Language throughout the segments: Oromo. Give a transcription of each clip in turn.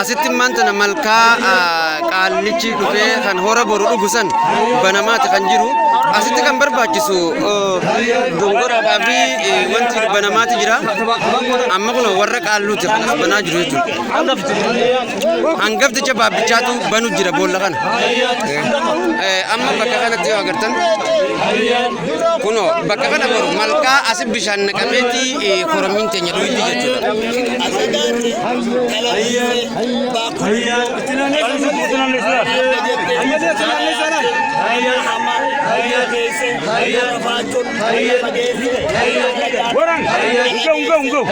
asitti maantana malkaa qaallichi dhufee kan hora boru dhugu san banamaati kan jiru asitti kan barbaachisu dongoraadhaa fi wanti banamaati jira amma kun warra qaalluuti kan as banaa jiru jechuudha. Hangafticha baabbichaatu banu jira boolla kana. Eh, Amma bakka kanatti yoo agartan kunoo bakka kana boru malkaa asi bishaan naqameeti eh, korommiin teenya dhuyitti jechuudha. Waran, go, go, go.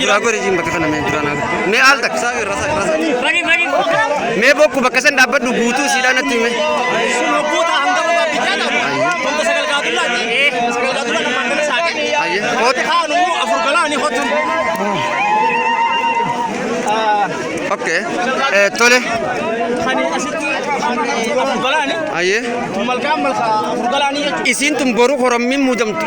Duraa godhe jiin bakka kana mee duraa naa godhe. Mee al takka. Mee bokku bakka san dhaabbadhu guutuu siidhaa natti hime. Ayye. Kooti. Okay. Eh, tole. Ayye. Isiin tun boru korommiin muudamtu.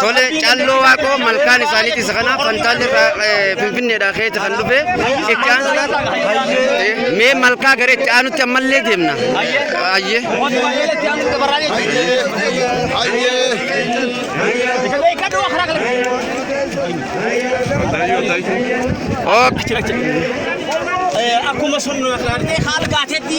Tole calloo waaqoo malkaan isaaniiti isa kana fantaalli irraa eh, finfinneedhaa keessa kan dhufe itti aansuudhaan mee malkaa gara itti aanutti ammallee deemna. Ayyee. Ok. Akkuma sun haala gaateetti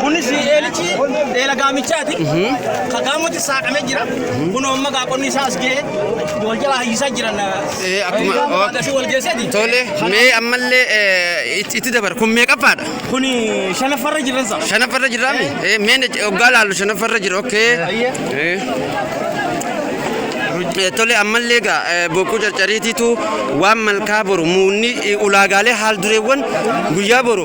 Kunis eelichi eela gaamichaati. Ka gaamutti saaqamee jira. Kun amma gaaqonni isaa as ga'ee wal jala hayyisaa jiran. Eh, akkuma- Gaama ok. baadasii wal geesseeti. Tole, mee ammallee eh, itti itti dabar. Kun meeqaffaadha? Kun shanaffarra jiran isaa. Shanaffarra jiraami? Eh, mee na- oggaa laallu shanaffarra jira, okay. Ayyee. Eh. Eh, Tole, ammallee egaa eh, bokkuu carcariitiitu waan malkaa boru muunni eh, ulaagaalee haal dureewwan guyyaa boru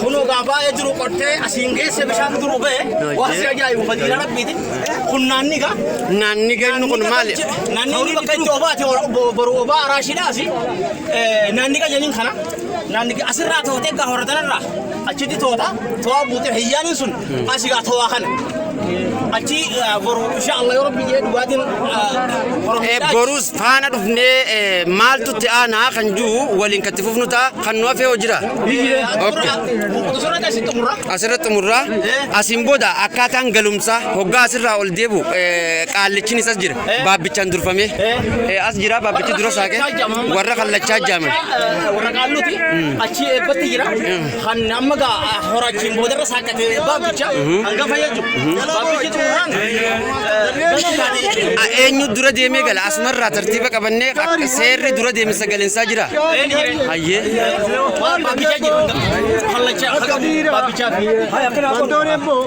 Kunoo gaa baay'ee jiru qottee asiin geesse bishaan duruu ba'e waan si ajaa'ibu fadiila rabbiiti. Kun naanni gaa. Naanni gannu kun maali? Naanni bakka itti obaati boru obaa araashiidhaa asi. Naanni gaa jedhin kana. Naanni gaa asirraa tootee gaa horatanarraa achitti toota to'aa buutee hiyyaaniin sun asi gaa to'aa kana. Achi boru inshaa Allah yoo rabbi jedhe dhugaatiin boru. Boruus faana dhufnee eh, maaltu itti aanaa kan jiru waliin kan itti fufnu ta'a kan nu hafee hojira. Okay. Asirratti xumurraa asiin booda akkaataan galumsaa hoggaa asirraa ol deebu eh, qaallichin isas jira baabbichaan durfamee Eh, as jira baabbichi dura saaqee warra kallachaa jaaman. Warra qaalluuti achii eebbatti jira. kan amma gaa horaachiin boodarra saaqqate baabbicha hanga fayyadu baabbichi xumuraan A- Eenyu dura deemee gala asumarraa tartiiba qabannee akka seerri dura deemsa galinsaa jira. Hayyee. baabbicha jiru kallacha baabbicha fi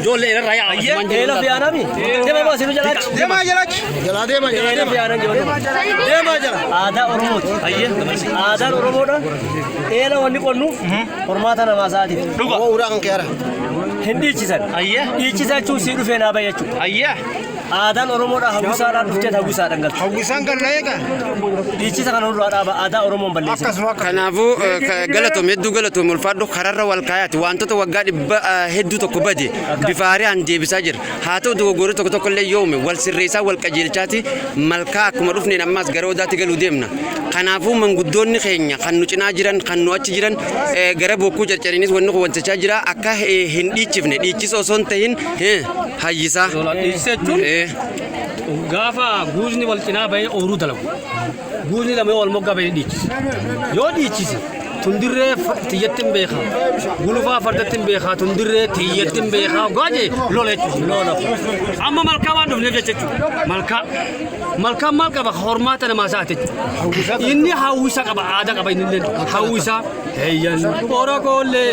Ijoollee irra yaa Usmaan jedhu. Eela fiyaanami. Deema moo sinu jalaachi. Deema jalaachi. Jalaa deema jalaa Eela deema. fiyaanan jiru. Deema jala. Aadaa Oromooti. Aadaan Oromoodha. Eela wanni qonnuuf hormaata namaa isaati. Dhuga. Uuraa kan keera. Hin dhiichisan. Dhiichisaa jechuun sii dhufee naa bayyachuu. Ayyaa. Aadaan Oromoodhaa hawwisaadhaa dhufteet hawwisaadhaan galti. Hawwisaan kan na eegan Dhiichisa kana nurraa dhaaba aadaa Oromoon balleessin. akkasuma akka Kanaafuu eh, ka- galatoom hedduu galatoom ulfaadhu kararra wal kaayaati wantoota waggaa dhibba eh, hedduu tokko bade bifa haaraan deebisaa jira haa ta'u dogoggorri tokko tokko illee yoo uume wal sirreessaa wal qajeelchaati malkaa akkuma dhufneen ammaas gara odaatti galuu deemna kanaafuu manguddoonni keenya kan nu cinaa jiran kan nu achi jiran eh, gara bokkuu carcariinis wanni kun wantichaa jira akka eh, hin dhiichifne dhiichisa osoo hin tahin Eh, Hayyisaa. Doolaa dhiisisa jechuun Eh, gaafa guuzni wal cinaa bahee ooruu dalagu. Guuzni lama yoo wal moggaa bahee dhiichise. Yoo dhiichise tundirree fa- tiyyatti hin beekaa. Gulufaa fardatti hin beekaa. Tundirree tiyyatti hin beekaa. Ogaa jee lola jechuudha. Lola. Amma malkaa waan dhufneef jecha jechuudha. Malkaa. Malkaan maal qaba? Hormaata namaa isaati jechuudha. Inni hawwisa qaba. Aadaa qaba inni illee. Hawwisa. Eeyyan. Ora koollee.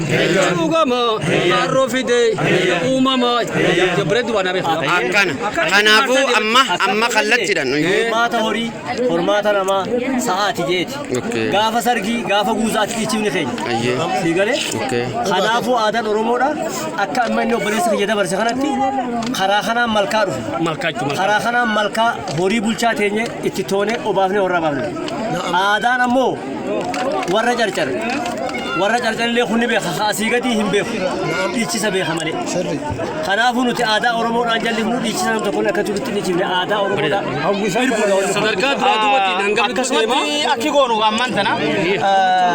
Dhugamaa maarroo fidee uumamaa jabreetti waan hafe. Akkana. Kanaafuu amma amma kallattiidhaan nuyi. Hormaata horii, hormaata namaa, sa'aati jeeti. Okay. Gaafa sargii, gaafa guuzaatti dhiichifni Ayyee. keenya. Sii galee? Okay. Kanaafuu aadaan Oromoodha. Akka amma inni obboleessa kiyya dabarse kanatti karaa kanaan malkaa dhufe. Malkaachu malkaa. Karaa kanaan malkaa horii bulchaa teenye itti toonee obaafnee horraa baafne. Aadaan ammoo warra carcar warra carcar illee kun ni beeka ka asii gadii hin beeku dhiichisa beeka malee kanaafuu nuti aadaa oromoodhaan jallisnu dhiichisa nam tokkoon akka jirutti ni jibne aadaa oromoodhaan sadarkaa duraa duubatiin hanga bitti akkasumatti deemaa akki goonu ammaan tana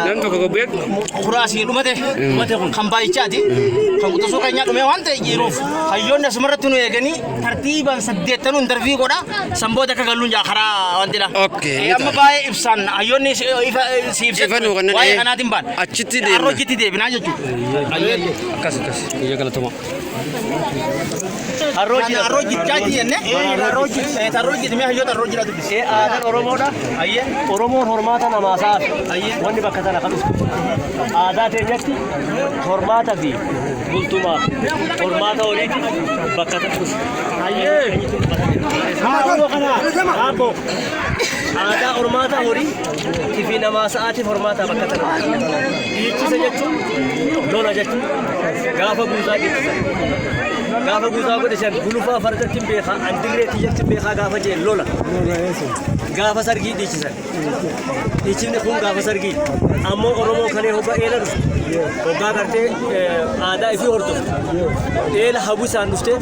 nam tokko gobbee kuraasii dhumate dhumate kun kan baay'ichaati kan quxisuu keenyaa dhumee waan ta'e jiruuf hayyoonni asumarratti nu eeganii tartiibaan saddeettanuu intarvii godha san booda akka galluun jaa karaa wanti dha. Okay, Eh, ni Amma ta'a. baay'ee ibsaan hayyoonni si- ifa si ibsa Ifa nuu kennan, waa'ee eh. kanaatiin baan. Achitti deemna. Har'a hojjetti deebinaa jechuudha. Akkas akkas. Biyya galatoma. Arroojii arroojichaa jenne. Arroojii. Arroojii mee hayyoota arroojii dha dubbisi. Ee aadaan Oromoodha. Hayyee. Oromoon hormaata namaa sa'a. Hayyee. Wanni bakka sana kan dhuftu. Aadaa teenyatti hormaata fi bultumaa fi hormaata horiiti bakka ta'us. Haadhoo kana haabbo aadaa hormaata horii fi namaa sa'aatiif hormaataa bakka ta'u. Dhiichisa jechuun lola jechuun gaafa guutaa dhiichisa. Gaafa guutaa godhe san gulufaa fardatti hin beekaa andirree tiyyatti hin beekaa gaafa jeen lola. Gaafa sargii dhiichisan. Dhiichifni kun gaafa sargii ammoo Oromoo kalee hoggaa eela dhufu hoggaa gartee eh, aadaa ifii hordofu eela hawwisaan dhuftee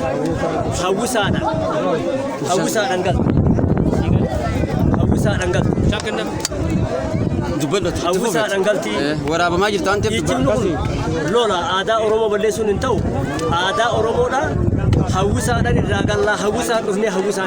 hawwisaadhaan hawwisaadhaan galtu hawwisaadhaan galtu Dubbadhu. hawwisaadhaan galtii. Waraabamaa jirtu waan ta'eef Dhiichifni dubbadhu. kun lola aadaa Oromoo balleessuun hin ta'u aadaa Oromoodhaa hawwisaadhaan irraa gallaa hawwisaan dhufnee hawwisaan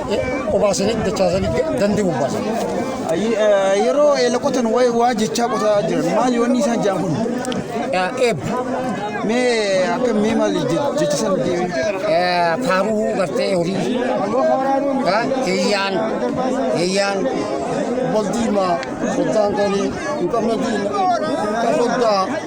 obaasanii dachaasanii dandii bobbaasan. Yeroo eela qotan waa'ee waa jechaa qotaa jiran maal yoonni isaan jaan kun? Eeb. Mee akka mee maal jechisan deemee? Faaruu gartee horii. Hiyyaan. Hiyyaan. Waldiimaa. Soddaan qorii. Hin qabne diina. Soddaa.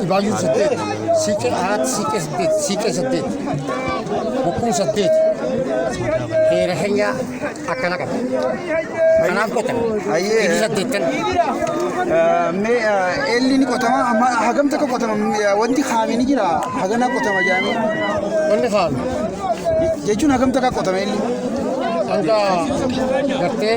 Dhibaayyuu saddeet, siiqee arat, siiqee saddeet, siiqee saddeet, bokkuun saddeet. Heera keenya akkana qaba. Kanaaf qotan. Ayyee. Inni saddeettan. Mee eelli ni qotama amma hagam takka qotama wanti kaame ni jira hagana qotama jaanii Wanni kaa'ame jechuun hagam takka qotama eelli. hanga gartee